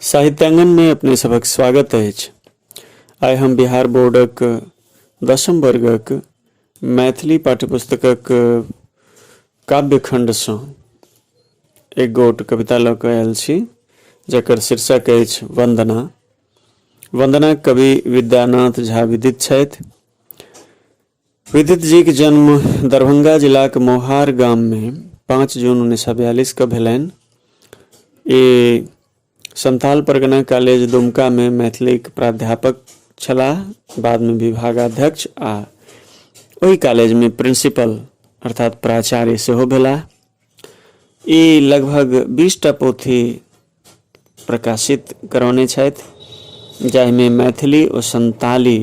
साहित्यांगन में अपने सबक स्वागत है आइ हम बिहार बोर्डक दसम वर्गक मैथिली पाठ्यपुस्तकक काव्यखण्डसँ एक गोट कविता लऽ कऽ आयल छी जकर शीर्षक अछि वन्दना वंदना कवि विद्यानाथ झा विदित छथि विदित जीक जन्म दरभंगा जिलाक मोहार गाममे पाँच जून उन्नैस सए बयालिसके भेलनि ई संथाल परगना कॉलेज दुमकामे मैथिलीक प्राध्यापक छलाह बादमे विभागाध्यक्ष आ ओहि कॉलेजमे प्रिंसिपल अर्थात प्राचार्य सेहो भेलाह ई लगभग बीसटा पोथी प्रकाशित करौने छथि जाहिमे मैथिली ओ संताली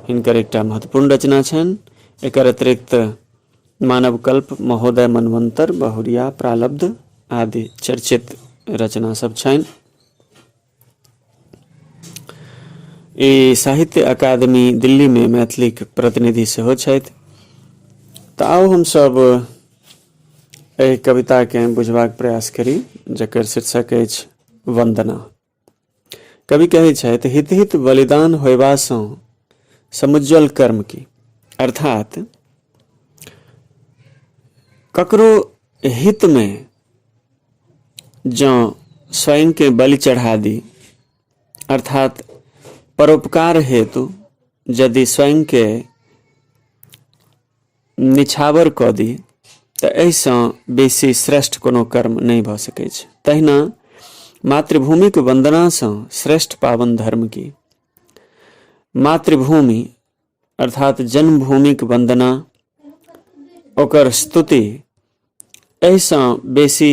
हिनकर एकटा महत्वपूर्ण रचना छनि एकर अतिरिक्त मानव कल्प महोदय मनवंतर बहुरिया प्रालब्ध आदि चर्चित रचना सब छनि ई साहित्य अकादमी दिल्लीमे मैथिलीक प्रतिनिधि सेहो छथि तऽ आउ हमसभ एहि कविताकेँ बुझबाक प्रयास करी जकर शीर्षक अछि वन्दना कवि कहै छथि हित हित बलिदान होयबासँ समुज्जल कर्म की अर्थात ककरो हितमे जँ स्वयंकेँ बलि चढ़ा दी अर्थात परोपकार हेतु यदि स्वयंकेँ निछावर कऽ दी तऽ एहिसँ बेसी श्रेष्ठ कोनो कर्म नहि भऽ सकैत छै तहिना मातृभूमिक वन्दनासँ श्रेष्ठ पावन धर्म की मातृभूमि अर्थात जन्मभूमिक वन्दना ओकर स्तुति एहिसँ बेसी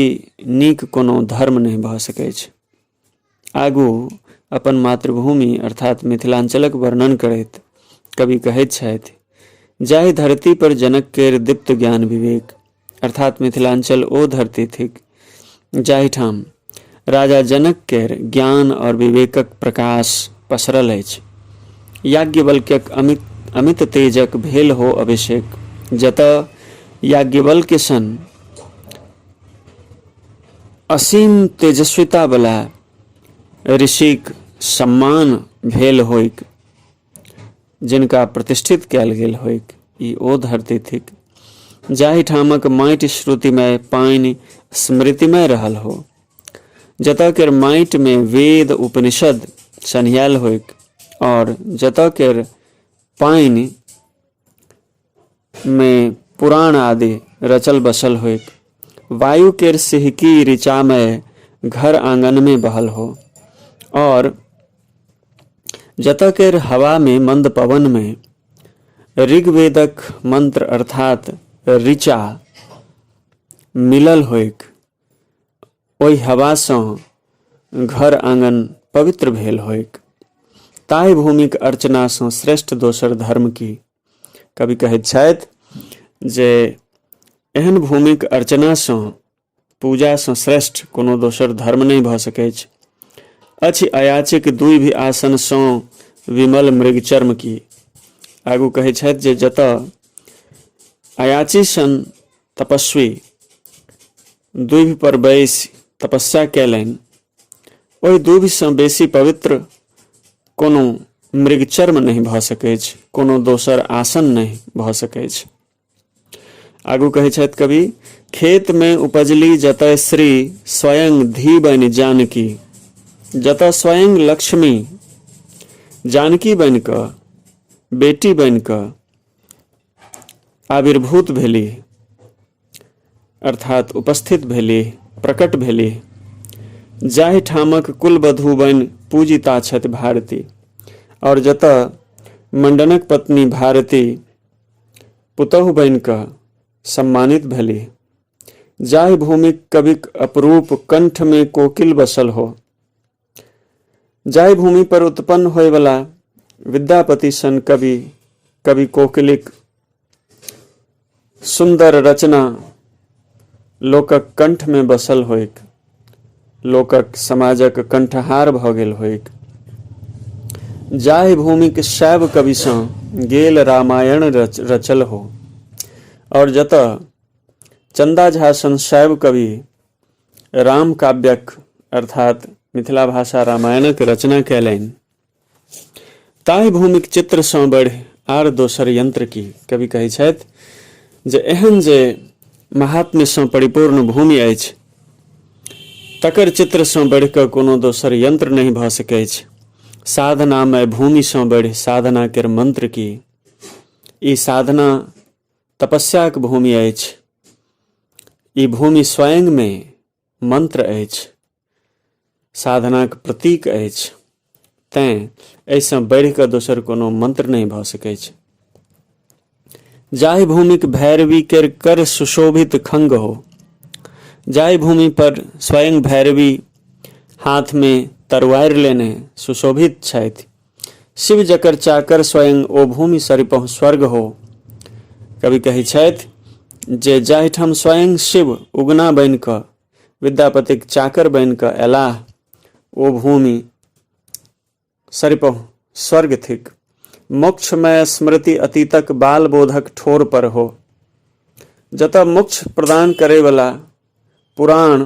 नीक कोनो धर्म नहि भऽ सकैत छै आगू अपन मातृभूमि अर्थात मिथिलाञ्चलक वर्णन करैत कवि कहैत छथि जाहि धरती पर जनक केर दीप्त ज्ञान विवेक अर्थात मिथिलांचल ओ धरती थिक जाहिठाम राजा जनक केर ज्ञान और विवेकक प्रकाश पसरल अछि याज्ञवल्क्यक अमित अमित तेजक भेल हो अभिषेक जतऽ याज्ञवल्क्य सन असीम तेजस्विता बला ऋषिक सम्मान भेल होइक जिनका प्रतिष्ठित कयल गेल होइक ई ओ धरती थिक जाहिठामक माटि श्रुतिमय पानि स्मृतिमय रहल हो जतऽ केर माटि में वेद उपनिषद सन्हियाल होइक और जतऽ केर पानि मे पुराण आदि रचल बसल होइक वायु केर सिहकी ऋचामय घर आंगन में बहल हो और जत केर हवा में मंद पवन में ऋग्वेदक मंत्र अर्थात ऋचा मिलल होइक ओहि हवा से घर आंगन पवित्र भेल होइक ताहि भूमिक अर्चना से श्रेष्ठ दोसर धर्म की कवि कहैत छथि जे एहन भूमिक अर्चनासँ पूजासँ श्रेष्ठ कोनो दोसर धर्म नहि भऽ सकैत अछि अछि अयाचिक दुइ भी आसनसँ विमल मृग चर्म की आगू कहैत छथि जे जतऽ अयाची सन तपस्वी दुभि पर बैस तपस्या कयलनि ओहि दूभिसँ बेसी पवित्र कोनो मृगचर्म नहि भऽ सकैछ कोनो दोसर आसन नहि भऽ सकैछ आगू कहै छथि कवि खेत में उपजली जतय श्री स्वयं धी बनि जानकी जतय स्वयं लक्ष्मी जानकी बनि कऽ बेटी बनि कऽ आविर्भूत भेली अर्थात उपस्थित भेली प्रकट भेली जाहि ठामक कुलबधू बनि पूजिता छथि भारती आओर जतऽ मंडनक पत्नी भारती पुतहु बनि कऽ सम्मानित भेली जाहि भूमिक कविक अपरूप कंठमे कोकिल बसल हो जाहि भूमि पर उत्पन्न होयवला विद्यापति सन कवि कवि कोकिलिक सुन्दर रचना लोकक कण्ठमे बसल होइक लोकक समाजक कण्ठहार भऽ गेल होइक जाहि भूमिक शैव कविसँ गेल रामायण रच रचल हो आओर जतऽ चन्दा झा सन शैव कवि राम काव्यक अर्थात मिथिला भाषा रामायणक रचना कयलनि ताहि भूमिक चित्रसँ बढ़ि आर दोसर यंत्र की कवि कहै छथि जे एहन जे महात्म्यसँ परिपूर्ण भूमि अछि तकर चित्रसँ बढ़ि कऽ कोनो दोसर यंत्र नहि भऽ सकैत अछि साधनामय भूमिसँ बढ़ि साधना केर मंत्र की ई साधना तपस्याक भूमि अछि ई भूमि स्वयंमे मंत्र अछि साधनाक प्रतीक अछि तैं एहिसँ बढ़ि कऽ दोसर कोनो मंत्र नहि भऽ सकैत छै जाहि भूमिक भैरवी केर कर सुशोभित खंग हो जाहि भूमि पर स्वयं भैरवी हाथमे तरवारि लेने सुशोभित छथि शिव जकर चाकर स्वयं ओ भूमि सरिपहु स्वर्ग हो कवि कहै छथि जे जाहिठाम स्वयं शिव उगना बनि कऽ विद्यापतिक चाकर बनि कऽ अयलाह ओ भूमि सरिपहु स्वर्ग थिक मोक्षमय स्मृति अतीतक बाल बोधक ठोर पर हो जतऽ मोक्ष प्रदान करयवला पुराण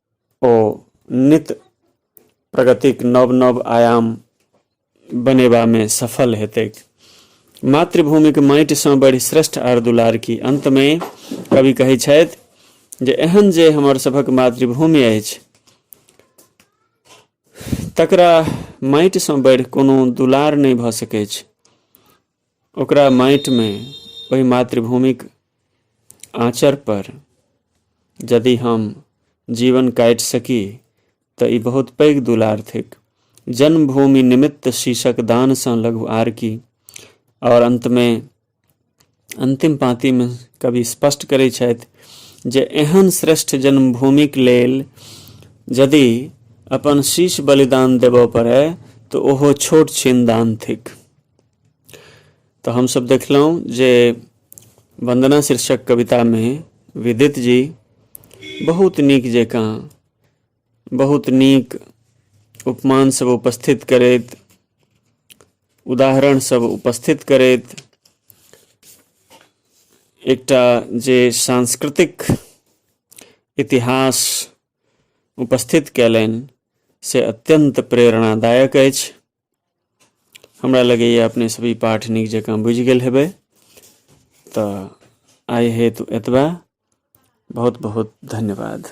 ओ नित प्रगतिक नव नव आयाम बनेबामे सफल हेतैक मातृभूमिक माटिसँ बढ़ि श्रेष्ठ आर दुलार की अन्तमे कवि कहै छथि जे एहन जे हमर सभक मातृभूमि अछि तकरा माटिसँ बढ़ि कोनो दुलार नहि भऽ सकैत छै ओकरा माटिमे ओहि मातृभूमिक आँचर पर यदि हम जीवन काटि सकी तऽ ई बहुत पैघ दुलार थिक जन्मभूमि निमित्त शीशक दानसँ लघु आर की आओर अन्तमे अन्तिम पाँतिमे कवि स्पष्ट करैत छथि जे एहन श्रेष्ठ जन्मभूमिक लेल यदि अपन शीश बलिदान देबऽ पड़य तऽ ओहो छोट छिन दान थिक तऽ हमसभ देखलहुँ जे वन्दना शीर्षक कवितामे विदित जी बहुत नीक जकाँ बहुत नीक उपमानसभ उपस्थित करैत उदाहरणसभ उपस्थित करैत एकटा जे सांस्कृतिक इतिहास उपस्थित कयलनि से अत्यन्त प्रेरणादायक अछि हमरा लगैए अपने सब ई पाठ नीक जकाँ बुझि गेल हेबै तऽ आइ हेतु एतबा बहुत बहुत धन्यवाद